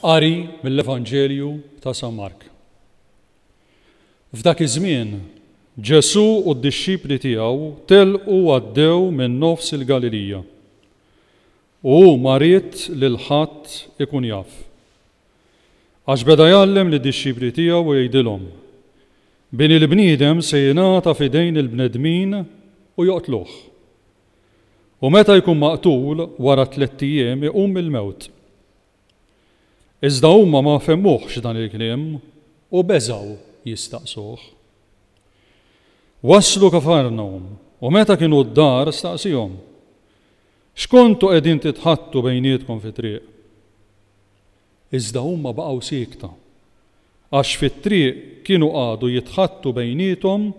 Qari mill-Evanġelju ta' San Mark. F'dak iż-żmien, Ġesù u d-dixxipli tiegħu telqu għaddew minn nofs il-Galilija. U hu ma ried lil ħadd ikun jaf. Għax beda jgħallem lid-dixxipli tiegħu u jgħidilhom, Bini l-bniedem se jingħata f'idejn il-bnedmin u joqtluh. U meta jkun maqtul, wara t-tlett ijiem iqum mill-mewt. Iżda huma ma fehmuhx dan il-kliem u beżgħu jistaqsuh. Waslu Kafarnawm, u meta kienu d-dar, staqsiehom, X'kontu qegħdin titħaddtu bejnietkom fit-triq? Iżda huma baqgħu siekta, għax fit-triq kienu qagħdu jitħaddtu bejniethom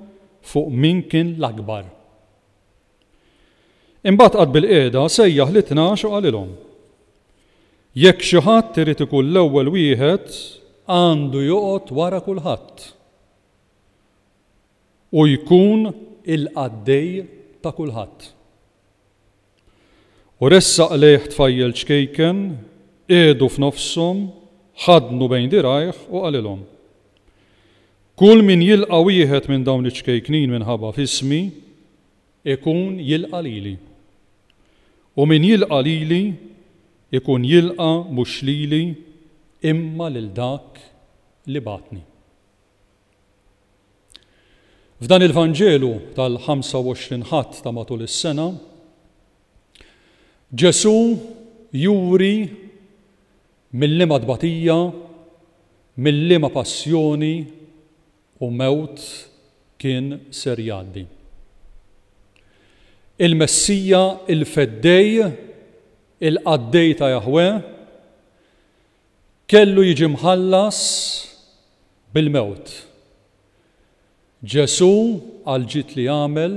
fuq min kien l-akbar. Imbagħad qagħad bilqiegħda, sejjaħ lit-tnax u qalilhom, Jekk xi ħadd irid ikun l-ewwel wieħed, għandu joqgħod wara kulħadd u jkun il-qaddej ta' kulħadd. U ressaq lejh tfajjel ċkejken, qiegħdu f'nofshom, ħaddnu bejn dirgħajh u qalilhom, Kull min jilqa' wieħed minn dawn iċ-ċkejknin minħabba f'ismi, ikun jilqa' lili. U min jilqa' lili, ikun jilqa' mhux lili, imma lil dak li bagħatni. F'dan il-Vanġelu tal-25 Ħadd ta' matul is-sena, Ġesù juri mil-liema tbatija, mil-liema passjoni u mewt kien ser jgħaddi. Il-Messija, il-Feddej, il-Qaddej ta' Jaħweh, Kellu jiġi mħallas bil-mewt. Ġesù għall-ġid li għamel,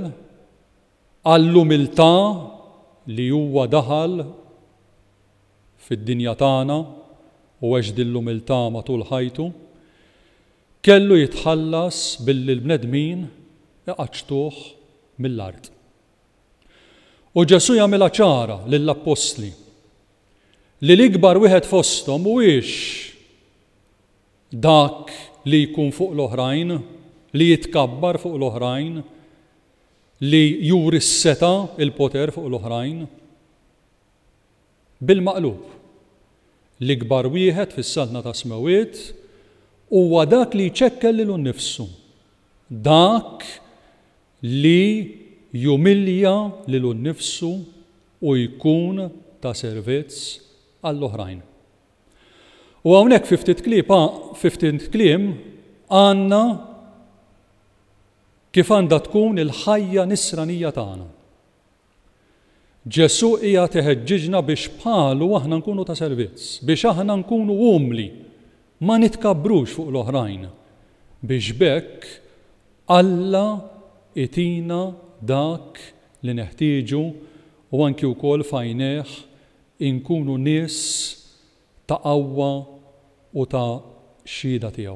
għall-umiltà li huwa daħal fid-dinja tagħna u għex din l-umiltà matul ħajtu, kellu jitħallas billi l-bnedmin iqaċċtuh mill-art. U Ġesù jagħmilha ċara lill-appostli. li l-ikbar wieħed fosthom mhuwiex dak li jkun fuq l-oħrajn, li jitkabbar fuq l-oħrajn, li juri s-setgħa, il-poter fuq l-oħrajn. Bil-maqlub, l-ikbar wieħed fis-Saltna tas-Smewwiet huwa dak li jċekkel lilu nnifsu, dak Li jumilja lilu nnifsu u jkun ta' servizz għall-oħrajn. U hawnhekk fi ftit klieb fi ftit kliem għandna kif għandha tkun il-ħajja nisranija tagħna. Ġesù qiegħed iħeġġiġna biex bħalu aħna nkunu ta' servizz, biex aħna nkunu umli, ma nitkabbrux fuq l-oħrajn, biex b'hekk Alla jtina dak li neħtieġu u anki wkoll f'għajnejh inkunu nies ta' qawwa u ta' xhieda tiegħu.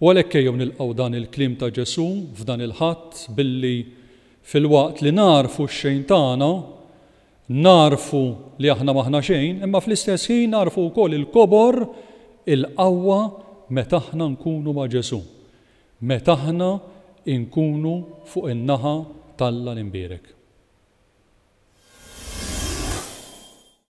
U għalhekk ejjew nilqgħu dan il-kliem ta' Ġesù f'dan il-Ħadd billi, filwaqt li nagħrfu x-xejn tagħna, nagħrfu li aħna m'aħna xejn, imma fl-istess ħin nagħrfu wkoll il-kobor, il-qawwa meta aħna nkunu ma' Ġesù, meta aħna nkunu fuq in-naħa t'Alla l-imbierek.